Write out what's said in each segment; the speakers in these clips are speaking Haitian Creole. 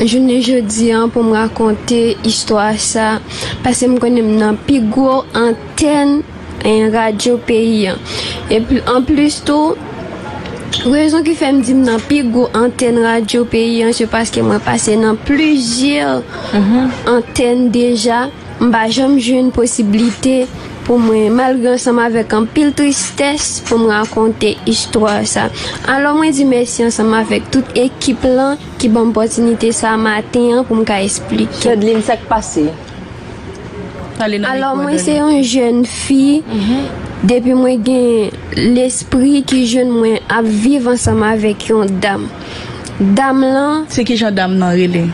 Jounen jodi an pou m rakonte istwa sa paske m konnen m nan pi gwo antèn radyo peyi an. Epi anplis tou, rezon ki fè m di m nan pi gwo antèn radyo peyi an se paske mwen pase nan plizyè antèn deja. M pa janm jwenn posiblite pou mwen, malgre ansanm avèk anpil tristès, pou m rakonte istwa sa. Alò mwen di mèsi ansanm avèk tout ekip lan. Ki banm pòtinite sa maten an pou m ka esplike. Chadlin sak pase? Pale nan mikro Dony. Alò mwen se yon jèn fi, depi mwen gen lespri ki jèn mwen ap viv ansanm avèk yon dam. Dam lan. Se kijan dam nan rele?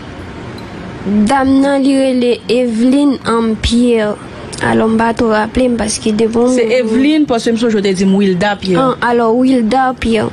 Dam nan li rele Evelyne Anm Pierre. Alò m pa two raple m paske de bon moun. Se Evelyne paske m sonje w te di m Wilda Pierre. An, alò Wilda Pierre.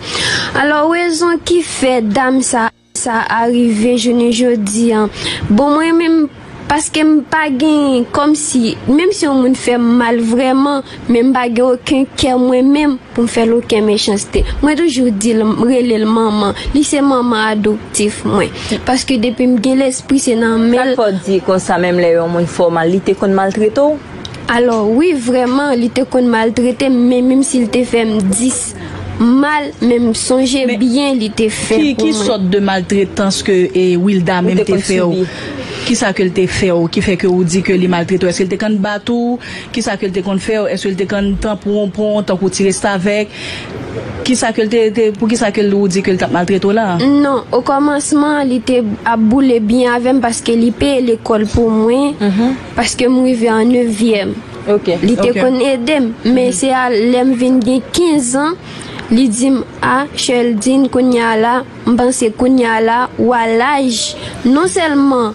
Alò rezon ki fè dam sa sa a rive jounen jodi an. Bon mwen menm paske m pa gen kòmsi menm si yon moun fè m mal vrèman men m pa gen oken kè mwen menm. Pou m fè l oken mechanste. Mwen toujou di l, m rele l manman. Li se manman adoptif mwen. Paske depi m gen lespri se nan men l. Sa k fè w di konsa menm lè yon moun fè w mal li te konn maltrete w? Alò, wi vrèman li te konn maltrete m men menm si l te fè m 10 mal men m sonje byen li te fè pou mwen. Ki sòt de maltretans ke Wilda menm te fè w? Kisa ke l te fè w ki fè ke ou di ke li maltrete w? Eske l te konn bat ou? Kisa ke l te konn fè yo? Èske l te konn tan pou yon pon, tan pou ti restavèk? Kisa ke l te, te, poukisa ke l ou di ke l t ap maltrete w la a? Non, okòmansman an li te ap boule byen avè m paske li peye lekòl pou mwen, paske m rive an nevyèm. Li te konn ede m. Men se a lè m vin gen 15 an, li di m, a, Sherldine, kounye a la, M panse kounya la ou a laj non sèlman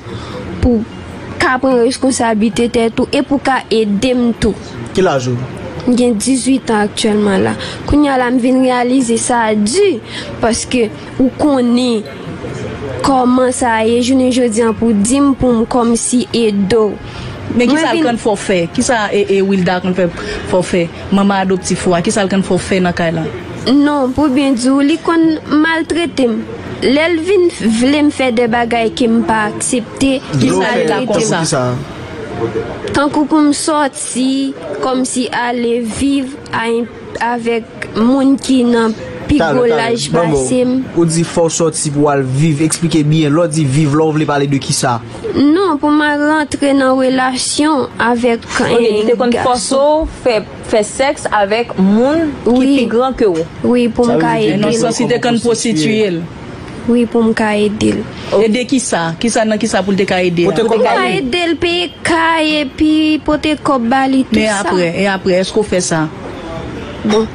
pou w ka pran reskonsablite tèt ou e pou w ka ede m tou. Ki laj ou? M gen 18 an aktyèlman la. Kounya la m vin reyalize sa di paske ou konnen kòman sa ye jounen jodi an pou w di m pou m kòmsi ede w. Men kisa l konn fè w fè? Kisa Wilda konn fè fè w fè? Manman adoptif ou a, kisa l konn fè w fè nan kay la? Non, pou byen di w, li konn maltrete m. Lè l vin vle m fè de bagay ke m pa aksepte, li maltrete m. Tankou pou m sòti, kòmsi ale viv a. Avèk moun ki nan pi gwo laj pase m. Ou di fò w sòti pou w al viv. Eksplike byen. Lè w di viv la, w vle pale de ki sa? Non, pou m al rantre nan relasyon avèk yon gason. Ok, li te konn fòse w fè sèks avèk moun ki pi gran ke w? Wi, pou m ka ede l. Nan sans li te konn pwostitiye l. Wi pou m ka ede l. Ede kisa? Kisa nan kisa pou l te ka ede a? Pou te ka ede l peye kay epi pote kòb ba li tout sa. Men aprè? E aprè? Èske ou fè sa? Bon.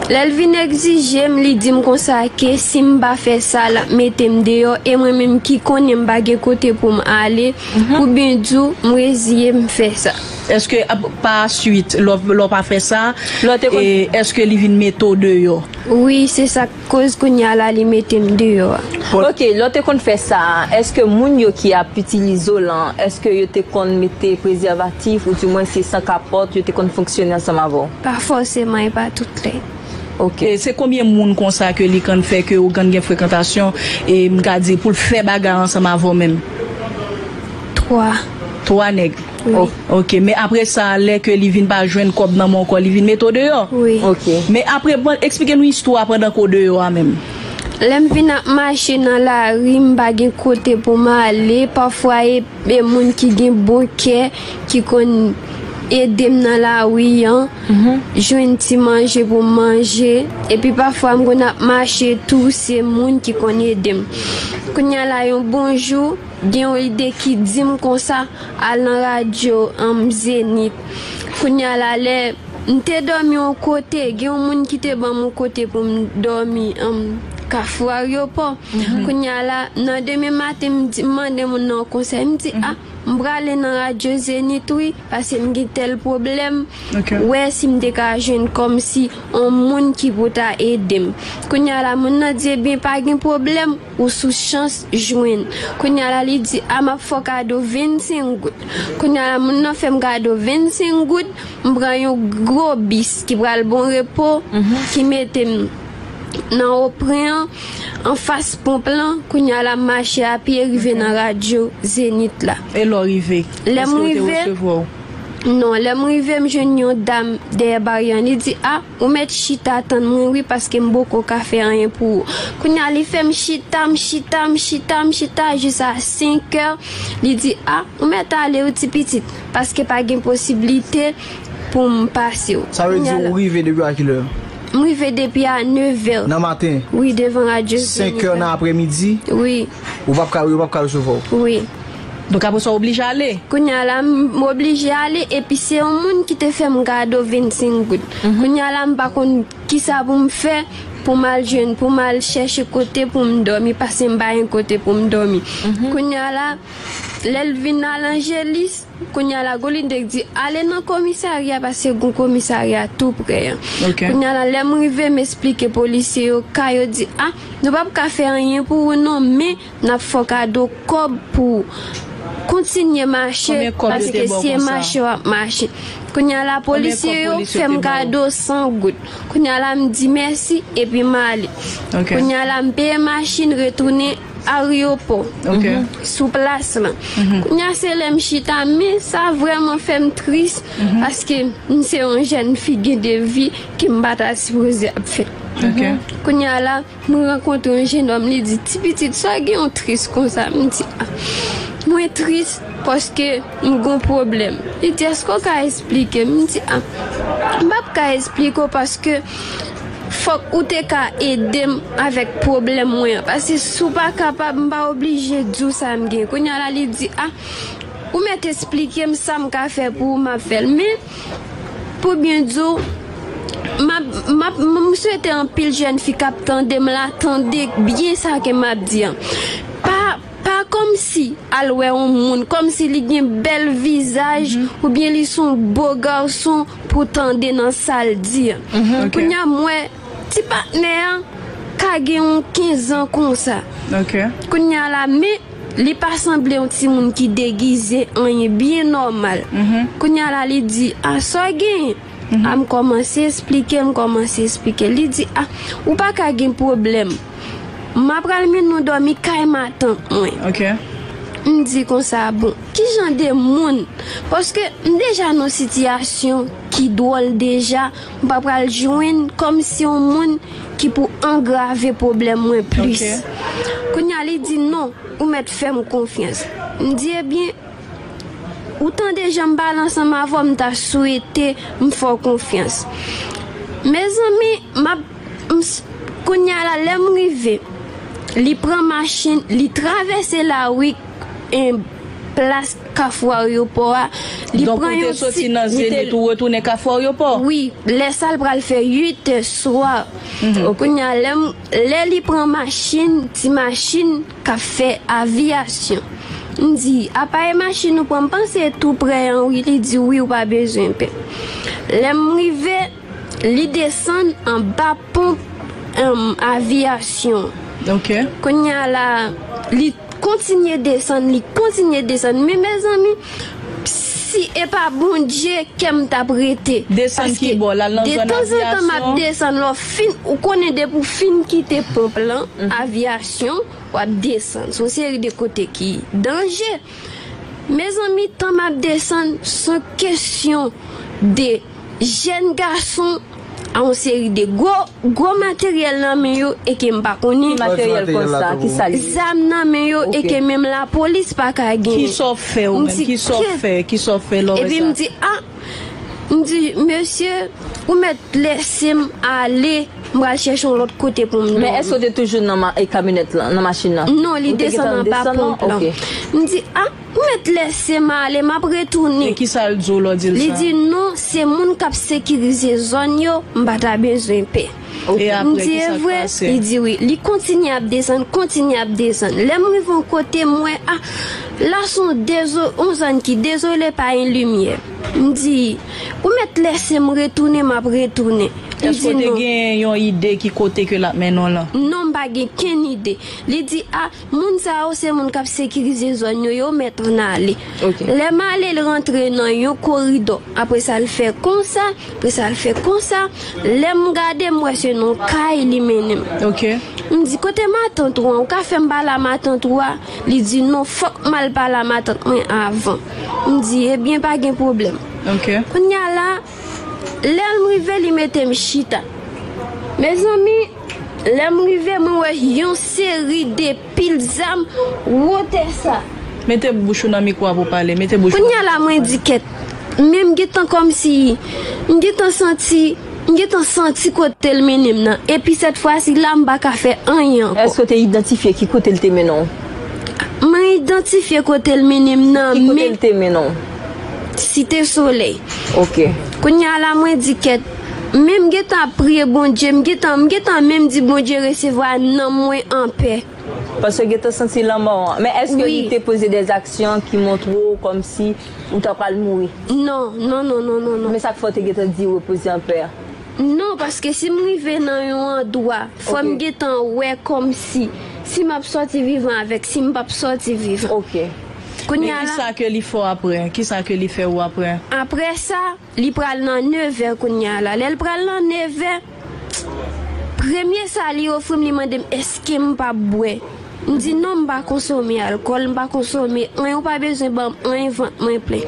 Lè l vin egzije m, li di m konsa ke si m pa fè sa, l ap mete m deyò e mwen menm ki konnen m pa gen kote pou m ale, pou byen di w, m reziye m fè sa. Èske pa swit, lè w pa fè sa, èske li vin mete w deyò? Wi, se sa k. Koz kounya la li metem deyò a. Ok lè w te konn fè sa a eske moun yo ki ap itilize w lan eske yo te konn mete prezèvatif ou di mwen se san kapòt yo te konn fonksyone ansanm avè w? Pa fòseman e pa tout lè. Ok. Se konbyen moun konsa ke li kann fè ke ou kann gen frekantasyon e m ka di pou l fè bagay ansanm avè w menm? 3. 3 nèg? Ok. Ok men apre sa lè ke li vin pa jwenn kòb nan men w kò li vin mete w deyò? Wi. Ok. Men apre bon eksplike nou istwa pandan ke w deyò a menm. Lè m vin ap mache nan lari m pa gen kote pou m ale pafwa e e moun ki gen bon kè ki konn ede m nan lari an jwenn ti manje pou m manje epi pafwa m konn ap mache tou se moun ki konn ede m. Kounya la yon bon jou Gen yon ide ki dim konsa, al nan radyo humm Zenith. Kounya la lè m te dòmi yon kote, gen yon moun ki te banm yon kote pou m dòmi humm kafou aryopò. Kounya la nan demen maten m di m mande moun nan yon konsèy m di ah m prale nan radyo Zenith wi pase m gen tèl pwoblèm wè si m te ka jwenn kòmsi yon moun ki pou ta ede m. Kounya la moun nan di ebyen pa gen pwoblèm. Ou sou chans jwenn. Kounya la li di a map fè w kado 25 goud. Kounya la moun nan fè m kado 25 goud, m pran yon gwo bis ki pral Bon Repo ki mete m nan Opren an, anfas ponp lan. Kounya la m mache a pye rive nan radyo Zenith la. E lè w rive? Lè m rive. Èske yo te resevwa w? Non. Lè m rive m jwenn yon dam dèyè baryè an li di a. Ou mèt chita tann mwen wi paske m boko ka fè anyen pou ou. Kounye a li fè m chita, m chita, m chita, m chita jis a senkè, li di a, ou mèt ale wi ti pitit paske pa gen posiblite pou m pase w. Sa vle di ou rive depi a kilè? M rive depi a nevè. Nan maten? Wi devan radyo Zenik la. Senkè nan aprèmidi? Wi. Ou pap ka, yo pap ka resevwa w? Wi. Donk apre sa w oblije ale. Kounye a la, m oblije ale epi se yon moun ki te fè m kado 25 goud. Kounye a la, m pa konn ki sa pou m fè pou m al jwenn, pou m al chèche kote pou m dòmi pase m pa gen kote pou m dòmi. Kounye a la, lè l vin al Angelis, kounye a la Golide di ale nan komisarya pase gon komisarya tou prè an. Kounye a la, lè m rive m esplike polisye yo ka, yo di a, nou p ap ka fè anyen pou ou non men, Nap fè w kado kòb pou w kontinye mache paske se mache wap mache kounye a la polisye yo fè m kado 100 goud kounye a la m di mèsi epi m ale kounye a la m peye machin retounen aryopò sou plas lan kounye a se lè m chita men sa vrèman fè m tris paske m se yon jèn fi gen de vi ke m pata sipoze ap fè kounye a la. Mwen rankontre yon jenòm li di, Ti pitit, sa gen ou tris konsa? M di, A, mwen tris paske m gen yon pwoblèm. Li di, Èske w ka esplike m? M di, A, m p ap ka esplike w paske fòk ou te ka ede m avèk pwoblèm mwen an. Paske si w pa kapab, m pa oblije di w sa m gen. Kounye a la li di, A, ou mèt esplike m sa m ka fè pou ou, m ap fè l. Pou byen di w, m swete anpil jèn fi k ap tande m la tande byen sa ke m ap di an. Pa kòmsi al wè yon moun kòmsi li gen bèl vizaj oubyen li se yon bo gason pou w tande nan sa l di an. Kounye a m wè ti patnè an ka gen yon 15 an konsa, kounye a la men. Li pa sanble yon timoun ki degize anyen byen nòmal. Kounya la li di, a sa w genyen? A m kòmanse esplike, m kòmanse esplike. Li di, a ou pa ka gen pwoblèm. M apral mennen w dòmi kay matant mwen. M di konsa, bon, ki jan de moun? Paske m deja nan yon sitiyasyon ki dwòl deja M pa pral jwenn kòmsi yon moun ki pou angrave pwoblèm mwen plis. Kounye a li di, Non, ou mèt fè m konfyans. M di, Ebyen, ou tande jan m pale ansanm avè w, m ta swete m fè w konfyans. Mezanmi, m ap, m s, kounye a la lè m rive, li pran machin, li travèse lari. plas kafou aryopò a. Li Donk ou pran te yon soti ti, nan li te- Zenith ou retounen kafou aryopò? Wi, lè sa l pral fè 8 tè swa. Kounye a lè m, lè li pran machin, ti machin k ap fè aviyasyon. M di, apa e machin ou pran? M panse e tou prè an wi, li di wi ou pa bezwen pè. Lè m rive. Li desann anba ponp aviyasyon. Kounye a la, li kontinye desann, li kontinye desann. Men mezanmi, si e pa Bondye, kè m t ap rete. Desann ki bò? L al nan zòn aviyasyon? Paske detanzantan m ap desann. Lè w fin, ou konnen depi ou fin kite ponp lan, aviyasyon, w ap desann. Se yon seri de kote ki danje. Mezanmi tan map desann son kesyon de jèn gason a yon seri de gwo gwo materyèl nan men yo eke m pa konnen. Ki materyèl konsa? Ki sa li ye? Zam nan men yo eke menm lapolis pa ka gen. Ki sa w fè ou menm? Ki sa w fè? Ki sa w fè lè w wè sa? Epi m di a, m di mesye ou mèt lese m ale. M pral chèche yon lòt kote pou m dòmi. Men èske w te toujou nan kamyonèt lan, nan machin lan? Non, li desann anba ponp lan. M di, a, ou mèt lèse m ale, m ap retounen. E kisa l di w lè w di l sa? Li di, non, se moun k ap sekirize zòn yo, m pa ta bezwen pè. E apre, kisa k pase? M di, e vre? Li di, wi. Li kontinye ap desann, kontinye ap desann. Lè m rive yon kote, m wè, a, la se yon zòn ki dezole, pa gen limyè. M di, Ou mèt lèse m retounen, m ap retounen. Li Èske di, w te Non. gen yon ide ki kote ke l ap mennen w lan? Non, m pa gen kenn ide. Li di, A, moun sa yo se moun k ap sekirize zòn yo, yo mèt ann ale. Ok. Lè m ale, l rantre nan yon koridò. Apre sa, l fè konsa, apre sa, l fè konsa. Lè m gade, m wè se nan yon kay li mennen m. Ok. M di, Kote matant ou an? Ou ka fè m pale a matant ou a? Li di, Non, fòk m al pale a matant mwen avan. M di, Ebyen, pa gen pwoblèm. Kounye a la, lè m rive, li mete m chita. Mezanmi, lè m rive, mwen wè yon seri de pil zam wotè sa. Mete bouch ou nan mikwo a pou w pale. Mete bouch ou nan mikwo a. Kounye a la, mwen di kèt. Men m gen tan kòmsi m gen tan santi, m gen tan santi kote l mennen m nan. Epi sètfwasi la, m pa ka fè anyen ankò. Èske w te idantifye ki kote l te mennen w? Mwen idantifye kote l mennen m nan men. Ki kote l te mennen w? Site Solèy. Ok. Kounye a la mwen di kèt. Men m gentan ap priye Bondye, m gentan, m gentan menm di Bondye resevwa nanm mwen anpè. Paske w gentan santi lanmò an. Men èske li te poze de zaksyon ki montre w kòmsi ou ta pral mouri? Non, non, non, non, non, non. Men sa k fè w te gentan di repoze anpè? Non paske sim rive nan yon andwa fòm gentan wè kòmsi si map sòti vivan avèk sim pap sòti vivan ok kounya la. Men kisa ke li fè aprè kisa ke li fè ou aprè. Aprè sa li pral nan nevè kounya la lèl pral nan nevè premye sa li ofrim li mandem eskem pap bwè. M di non m pa konsome alkòl, m pa konsome anyen ou pa bezwen banm anyen vant mwen plen.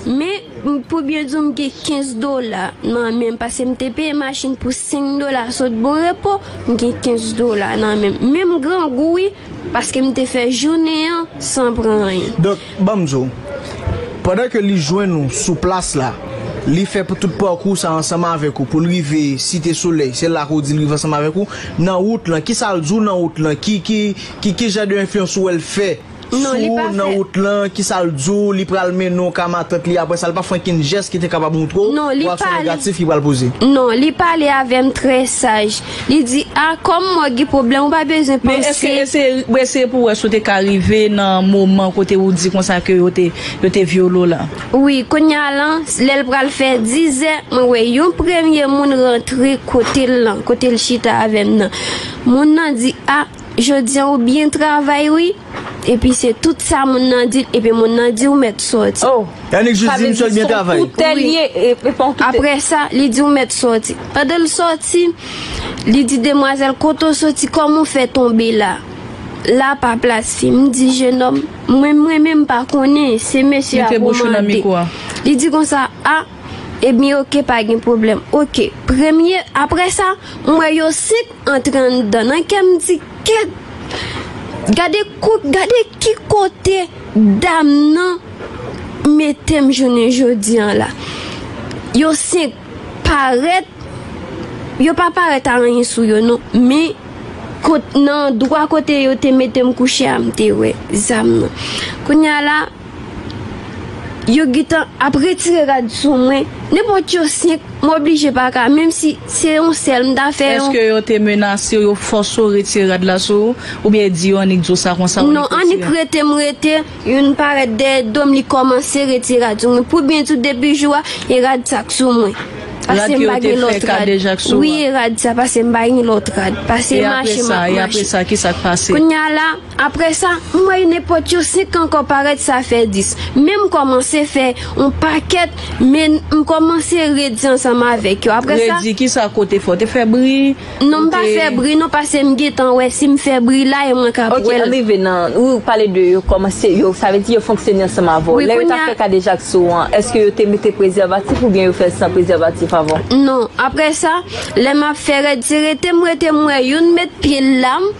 Men pou byen di w m gen 15 dola nan menm pase m te peye machin pou 5 dola sot bon repo m gen 15 dola nan menm men m grangou wi paske m te fè jounen an san pran anyen. Banm di w, pandan ke li jwenn ou sou plas la, li fè pou tout pakou sa ansanm avèk ou pou l rive Site Solèy, se la ke w di l rive ansanm avèk ou, nan wout lan, kisa l di w nan wout lan, ki, ki, ki, ki jan de enfliyans ou wè l fè sou ou nan wout lan, kisa l di w, li pral mennen w ka matant li aprè sa, li pa fè ankenn jès ki te kapab montre w reyaksyon negatif li pral poze? Non, li pale avè m trè saj, Li di, A, kòm mò gen pwoblèm, ou pa bezwen panse. Men èske eseye, eseye pou wè si ou te ka rive nan moman kote ou di konsa ke yo te, yo te vyole w lan? Wi, kounye a lan, lè l pral fè dizè, mwen wè yon premye moun rantre kote l lan, kote l chita avè m nan. Moun nan di, A. Jodi an ou byen travay wi. Epi se tout sa moun nan di epi moun nan di ou mèt sòti. Oh! Yannick jis di misye byen travay. Sa vle di son koutè li ye epi pa yon koutè. Aprè sa, li di ou mèt sòti. Pandan l sòti, li di demwazèl kote ou sòti kòman ou fè tonbe la. La pa plas fi. M di jenòm, mwen menm m pa konnen, se mesye a pou w mande. Li di konsa, ah! Ebyn ok pa gen pwoblèm ok premye aprè sa m wè yo 5 antre anndan nan kè m di kèt gade kot gade ki kote dam nan mete m jounen jodi an la yo 5 parèt yo pa parèt a anyen sou yo non men kot nan dwa kote yo te mete m kouche a m te wè zam nan kounya la. Yo gitan ap retire rad sou mwen nenpòt yo 5 m oblije pa ka menm si se yon sèl m ta fè yon. Eske yo te menase w yo fòse w retire rad la sou ou oubyen di yo annik di w sa konsa ou Non annik rete m rete youn parèt dèyè do m li kòmanse retire rad sou mwen pou byen di w depi jou a e rad sa k sou mwen pase m pa gen lòt rad wi e rad sa pase m pa gen lòt rad pase mache m ap mache kounya la. Aprè sa, m wè yo nenpòt yo 5 ankò parèt sa fè 10. Men m kòmanse fè on pakèt men m kòmanse redi ansanm avèk yo. Aprè sa. Redi ki sa kote fè? Ou te fè bri? Non m pa fè bri non pase m gentan wè si m fè bri la e mwen ka ap wè l. Ok, rive nan, ou pale de yo kòmanse yo sa vle di yo fonksyone ansanm avè w. Lè yo ta fè kadejak sou ou an, èske yo te mete prezèvatif oubyen yo fè l san prezèvatif avan? Non. Aprè sa, lè m ap fè rèd se rete m rete m wè youn met pye l la m.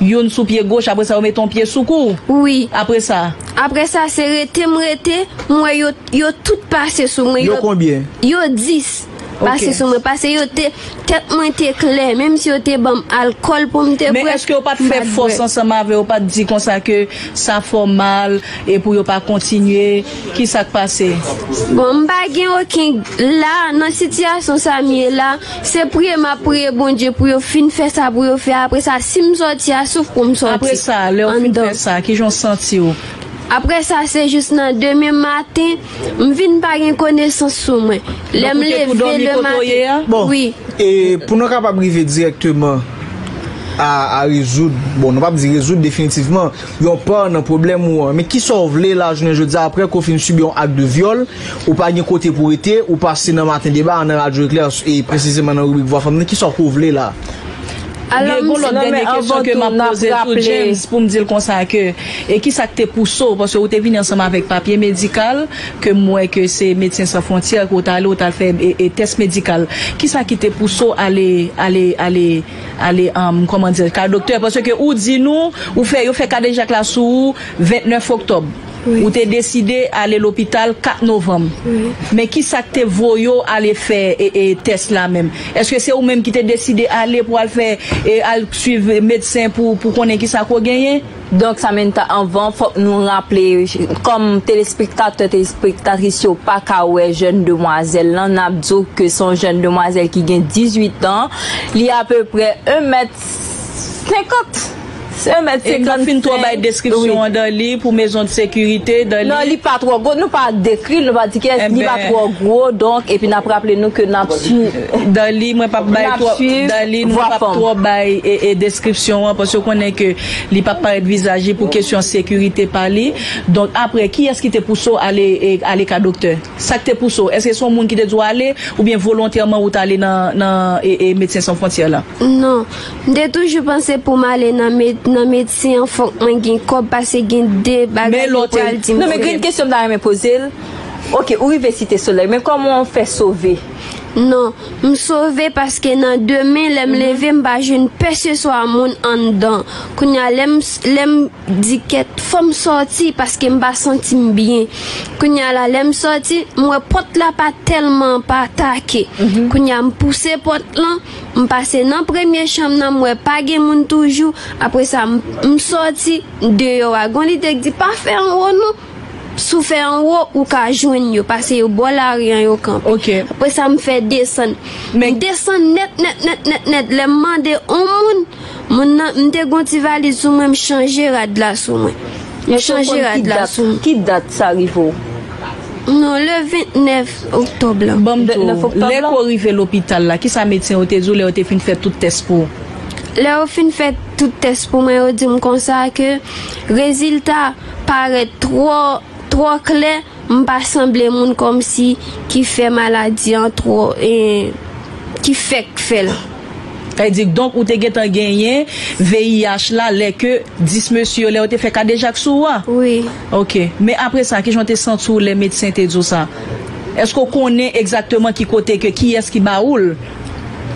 Youn sou pye goch apre sa yo mete yon pye sou kou ou? Wi. Apre sa? Apre sa se rete m rete, m wè yo yo tout pase sou mwen, Yo konbyen? yo 10 pase sou mwen pase yo te tèt mwen te klè menm si yo te ban m alkòl pou m te bwè, Men èske yo pa t m fè pa t fòs bwè. ansanm avè w yo pa t di konsa ke sa fè w mal e pou yo pa kontinye, kisa k pase? Bon m pa gen oken, la nan sitiyasyon sa m ye la, Se priye map priye Bondye pou yo fin fè sa pou yo fè apre sa sim sòti a souf poum sòti Apre sa lèw fin fè sa kijan w santiw? Apre sa se jis nan demen maten m vin pa gen konesans sou mwen lèm Donk ou te tou leve dòmi le kote w ye maten a? Bon wi. e pou nou kapab rive dirèkteman a a rezoud, bon nou pap di rezoud definitivman, yon pa nan pwoblèm ou an men kisa w vle lajounen jodi a apre ke w fin sibi yon ak de vyòl Ou pa gen kote pou rete, ou pase nan maten deba a nan Radyo Eklè e presizeman nan ribrik Vwa Fanm nan, kisa w ko vle la a? Alò gen yon lòt dènye kesyon ke m ap poze tou James pou m di l konsa ke e kisa k te pouse w, paske ou te vini ansanm avèk papye medikal ke m wè ke se Medsen San Fwontyè ke w t ale ou t al fè tès medikal, kisa ki te pouse w ale ale ale ale kòman di l ka doktè paske ou di nou ou fè yo fè kadejak la sou ou 29 oktòb. Ou te deside ale lopital 4 novanm. Men ki sa k te voye w ale fè tès la menm? Èske se ou menm ki te deside ale pou al fè al suiv medsen pou pou konnen ki sa ke w genyen? Donk Samentha anvan fòk nou raple kòm telespektatè telespektatris yo pa ka wè jèn demwazèl lan n ap di w ke se yon jèn demwazèl ki gen 18 an li apeprè 1 mèt 50. Sèm et 55 Ekran fin twò bay deskripsyon an dan li pou mezon de sekirite dan li. Non li pa twò gwo nou pa dekri l nou pa di kiyès li pa twò gwo donk epi nap raple nou ke nap swiv dan li mwen pap bay twò dan li nou pap twò bay e deskripsyon an paske konnen ke li pap parèt vizaj li pou kesyon sekirite pa li donk aprè kiyès ki te pouse w ale e ale ka doktè sak te pouse w èske se yon moun ki te di w ale oubyen volontèman ou t ale nan nan e e medsen san fwontyè la. Non. M te toujou panse poum ale nan med nan medsen an fòk mwen gen kòb pase gen de bagay yo pral dim fòk gen kesyon m ta renmen pozel ok ou rive site solèy men kòman ou fè sove? Non. M sove paske nan demen lèm leve m pa jwenn peseswa moun anndan kounya lèm lèm di kèt fòm sòti paske m pa santim byen kounya la lèm sòti m wè pòt la pa tèlman pa take kounya m pouse pòt lan M pase nan premye chanm nan m wè pa gen moun toujou, apre sa m sòti deyò a gon lide k di pa fè anwo non, si w fè anwo ou ka jwenn yo pase yo bò lari an yo kanpe. Apre sa m fè desann, m desann nèt nèt nèt nèt nèt lè m mande on moun Moun nan, m te gon ti valiz sou mwen m chanje rad la sou mwen. M chanje rad la sou mwen. Ki dat sa rive w? Non, le 29 oktòb lan. Ban m pito, lè ke w rive lopital la, kisa medsen yo te di w lè yo te fin fè tout tès pou w? Lè yo fin fè tout tès pou mwen, yo di m konsa ke rezilta parèt twò, twò klè. M pa sanble moun komsi ki fè maladi an tro en ki fèk fèl. Sa vle di kdonk ou te gentan genyen VIH la lè ke 10 mesye yo lè yo te fè kadejak sou ou a? Wi. Ok. Men apre sa kijan w te santi w lè medsen te di w sa? Eske w konnen egzakteman ki kote ke kiyès ki ba ou l?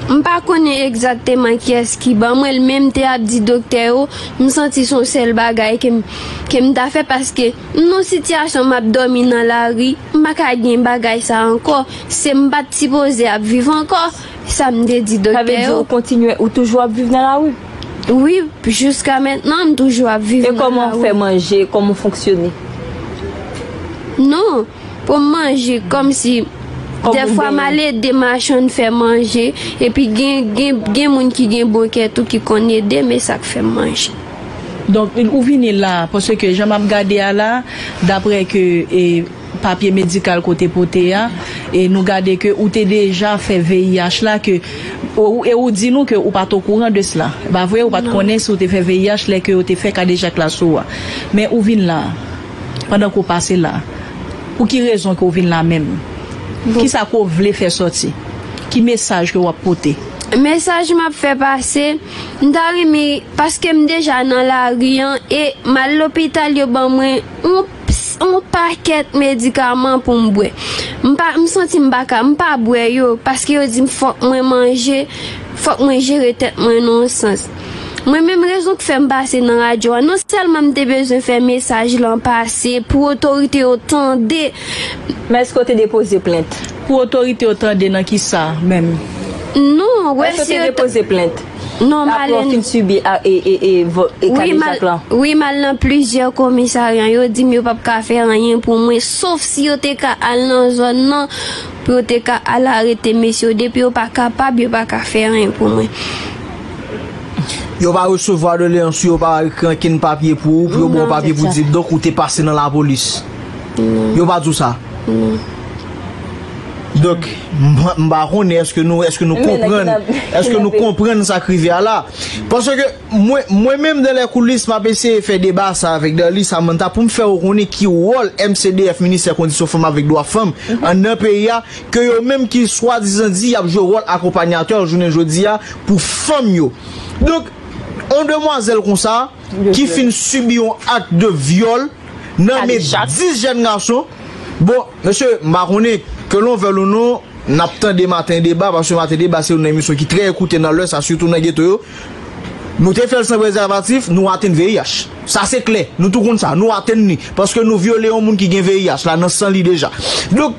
M pa konnen egzakteman kiyès ki ban mwen l men m te ap di doktè yo m santi son sèl bagay ke m ke m ta fè paske. M nan sitiyasyon m ap dòmi nan lari, m pa ka gen bagay sa ankò, se m pa t sipoze ap viv ankò, sa m te di doktè yo. Sa vle di ou kontinye, ou toujou ap viv nan lari? Wi, jiska mentnan m toujou ap viv nan lari. E kòman ou fè manje, kòman ou fonksyone? Non, pou m manje, kòm si dèfwa m al ede machann fè manje, epi gen moun ki gen bon kè tou ki konn ede m, e sa k fè m manje. Donk ou vini la paske jan map gade a la daprè ke papye medikal ke ou te pote a e nou gade ke ou te deja fè VIH la ke e ou di nou ke ou pat okouran de sla e pa vre ou pat konnen si ou te fè VIH lè ke yo te fè kadejak la sou ou a men ou vin la pandan ke ou pase la pou ki rezon ke ou vin la menm kisa ke ou vle fè sòti ki mesaj ke wap pote. Mesaj map fè pase. M ta renmen paske m deja nan lari an e m al lopital yo ban mwen yon pakèt medikaman pou m bwè m santi m pa ka m pa bwè yo paske yo di m fòk mwen manje fòk mwen jere tèt mwen nan yon sans mwen menm rezon k fè m pase nan radyo a non sèlman m te bezwen fè mesaj lan pase pou otorite yo tande m. Men èske w te depoze plent? Pou otorite yo tande nan kisa menm? Non, wè si yo ta. Èske yo te depoze plent? Non, m al. Apre w fin sibi kadejak lan? Wi, m al nan plizyè komisarya. Yo di m yo pap ka fè anyen pou mwen. Sof si yo te ka al nan zòn nan pou yo te ka al arete mesye yo. Depi yo pa kapab, yo pa ka fè anyen pou mwen. Yo pa resevwa doleyans ou, yo pa ekri ankenn papye pou ou, pou yo ba w papye pou di donk ou te pase nan lapolis? Non. Yo pa di w sa? Donk, m pa konnen eske nou konprann, eske nou konprann sa k rive a la. Paske mwen menm dan lè koulis m ap eseye fè deba sa avèk Darly Samantha pou m fè yo konnen ki wòl MCDF, Ministè Kondisyon Fanm avèk Dwa Fanm, an nan peyi a, ke yo menm ki swadizan di y ap jwe wòl akonpanyatè jounen jodi a pou fanm yo. Donk, yon demwazèl konsa ki fin sibi yon ak de vyòl. nan men 10 jèn gason bon mesye m pa konnen ke lon vèl ou non nap tande maten deba paske maten deba se youn nan emisyon ki trè ekoute nan lè sa sitou nan geto yo nou te fèl san prezèvatif nou atenn VIH sa se klè nou tou konn sa nou atenn ni paske nou vyole yon moun ki gen VIH la nan san li deja donk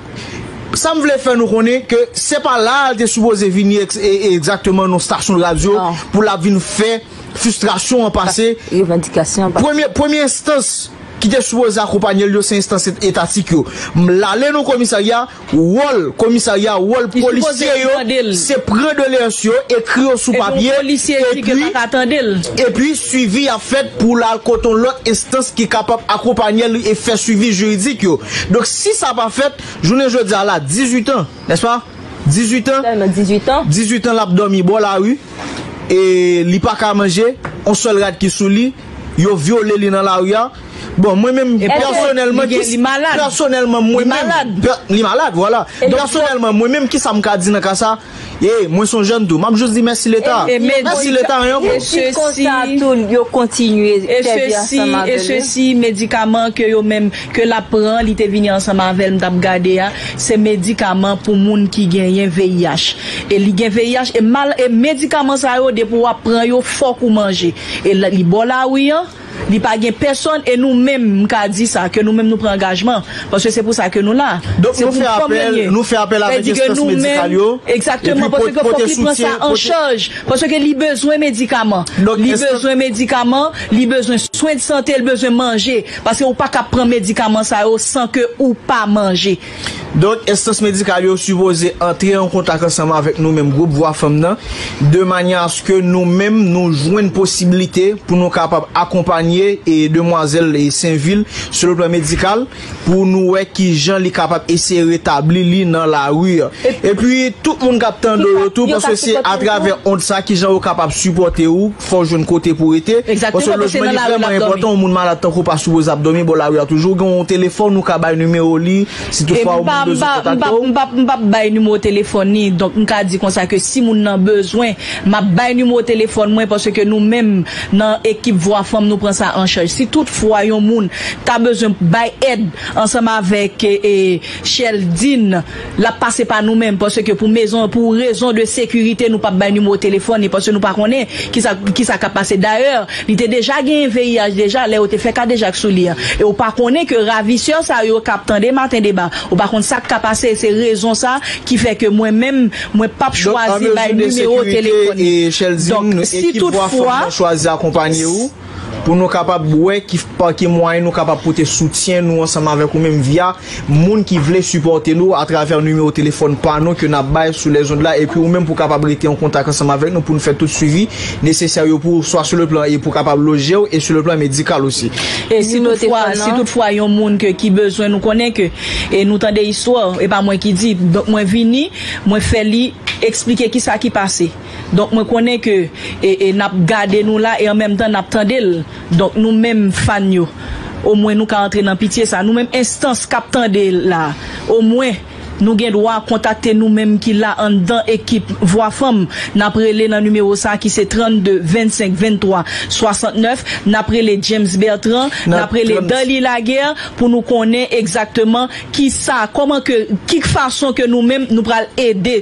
sa m vle fè nou konnen ke se pa la te sipoze vini egzakteman nan stasyon radyo pou lap vin fè. Fistrasyon an pase. Revandikasyon an pase. Premye enstans ki te sipoze akonpanye l yo se enstans etatik yo. M lale nan komisarya, wòl komisarya, wòl polisye yo se pran doleyans yo, ekri yo sou papye, epi swivi a fèt pou l al kote yon lòt enstans ki kapab akonpanye l e fè swivi jiridik yo. Donk si sa pa fèt, jounen jodi a la 18 an. N'est-ce pas? 18 ans, Sèlman 18 an. 18 ans lap dòmi bò lari e li pa ka manje, on sèl rad ki sou li, yo vyole li nan lari a. Bon mwen menm Eske pèsonèlman, li gen, li malad. pèsonèlman mwen Li menm, malad. pè, li malad vwala. E li Pèsonèlman mwen menm kisa m ka di nan ka sa? E mwen son jèn tou, map jis di mèsi leta. E li Mèsi konsa, leta anyen pou. e jis konsa tou yo kontinye e sèvi sesi, ansanm e avèl yo. sesi, medikaman ke yo menm ke lap pran li te vini ansanm avèl m tap gade a se medikaman pou moun ki genyen VIH e li gen VIH e mal e medikaman sa yo depi wap pran yo fòk ou manje e li bò lari an li pa gen pèsòn e nou menm m ka di sa ke nou menm nou pran angajman paske se pou sa ke nou la Donk nou fè apèl nou fè apèl avèk enstans medikal yo egzakteman paske ke fòk li pran sa an chaj paske ke li bezwen medikaman li bezwen medikaman li bezwen swen de sante li bezwen manje. Paske ou pa ka pran medikaman sa yo san ke ou pa manje. Donk, enstans medikal yo sipoze antre an kontak ansanm avèk nou menm gwoup Vwa Fanm nan, de manyè aske nou menm nou jwenn posibilite pou nou kapab akonpanye demwazèl Senvil sou le plan medikal, pou nou wè ki jan li kapab eseye retabli li nan lari an. Epi, tout moun k ap tande w yo tou, paske se atravè ond sa, ki jan yo kapab sipòte ou. fòw jwenn kote pouw rete, paske lojman li vrèman enpòtan, yon moun malad tankou w pa sipoze ap dòmi bò lari a, toujou gen yon telefòn ou ka bay nimewo li, si tout fwa yon moun bezwen kontakte w. M pap bay nimewo telefòn li, donk m ka di konsa ke si moun nan bezwen, map bay nimewo telefòn mwen, paske nou menm nan ekip vwa fanm nou pran sa an chaj, si tout fwa yon moun ta bezwen bay èd ansanm avèk Cheldine. Lap pase pa nou menm pase ke pou mezon pou rezon de sekirite nou pap bay nimewo telefon li pase nou pa konnen kisa kisa kap pase dayè li te deja genyen VIH deja lè yo te fè kadejak sou li an e ou pa konnen ke ravisè sa yo kap tande maten deba ou pa konn sak ka pase se rezon sa ki fè ke mwen menm mwen pap chwazi bay nimewo telefon li donk si tout fwa. Pou nou kapab wè ki pa ki mwayen nou kapab pote soutyen nou ansanm avèk ou menm via moun ki vle sipòte nou atravè nimewo telefòn pa nou ke nap bay sou lèzond la epi ou menm pou kapab rete an kontak ansanm avèk nou pou nou fè tout swivi nesesè yo pou ou swa sou le plan e pou kapab lojew e sou le plan medikal osi. E si tout fwa si tout fwa yon moun ke ki bezwen nou konnen ke e nou tande istwa e pa mwen ki di donk mwen vini mwen fè li eksplike kisa ki pase. Donk mwen konnen ke e nap gade nou la e an menm tan nap tande l donk nou menm fan yo o mwen nou ka antre nan pitye sa nou menm enstans kap tande la o mwen nou gen dwa kontakte nou menm ki la anndan ekip vwa fanm nap rele nan nimewo sa ki se 32 25 23 69 nap rele James Bertrand nap rele Darly Laguerre pou nou konnen egzakteman kisa kòman ke ki fason ke nou menm nou pral ede.